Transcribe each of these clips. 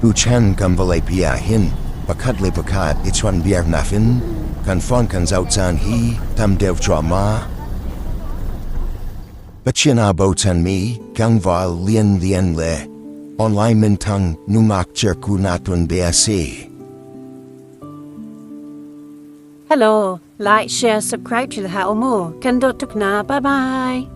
Tuchan kan vawleipi ah hin pakhat le pakhat i chawnhbiaknak in kan fon kan zoh caan hi tam deuh cuahmah. Pathian aa bochanmi tlangval lianlian le online minthang nungak cirku na tuan bia a si. Hello, Like, share, subscribe thil hau mu. Kan dot tuk na. Bye bye.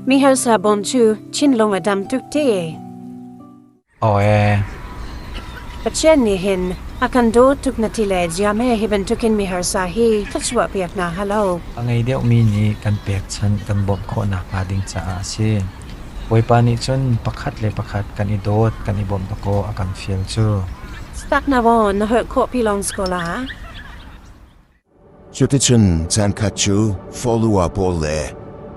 Mi har sa bom chu, chin long adam tuk te. Pathian nih hin a kan dawt tuk na ti le ziam he hi bantukin miharsa hi ka chuahpiak hna halo. A ngei deuhmi nih kan pekchanh kan bawmh khawh nakhnga ding caah a si. Bawipa nih cun pakhat le pakhat kan i dawt kan i bawmh dawkaw a kan fial cu. Stak na vaw na holh khawh pi lawng skola. Cuticun caankhat cu folua pawl le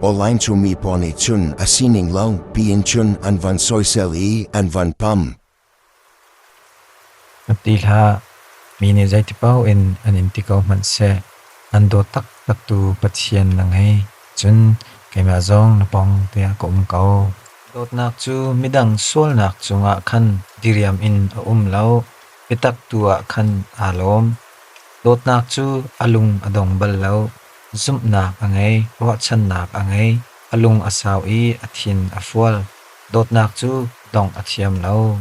awlain cumi pawl nih cun a sining lo piin cun an van sawisel i an van pam. A ti hlah, mi nih zeiti paoh in an in ti ko hmanh seh, an dawt taktaktu Pathian na ngei, cun keimah zong na pawng tiah ka um ko. Dawtnak cu midang sualnak cungah khan diriam in a um lo, biatak tu ah khan aa lawm. Dawtnak cu a lung a dong bal lo. Zumhnak a ngei, ruahchannak a ngei. A lung a sau i a thin a fual. Dawtnak cu dongh a thiam lo.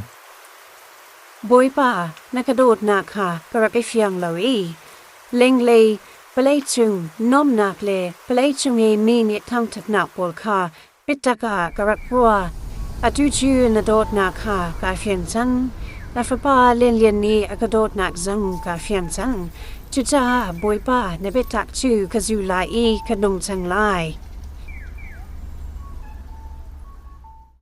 Bawipa, na ka dawtnak kha ka rak i fiang lo i lenglei palei cung nuamnak le palei cung i mi nih thangṭhatnak pawl kha Pitak ah ka rak hua. Atu cu na dawtnak kha kaa fiang cang. Na fapa Lianlian nih a ka dawtnak zong kaa fiang cang. Cucaah Bawipa na biatak cu ka zu lai i ka nung cang lai.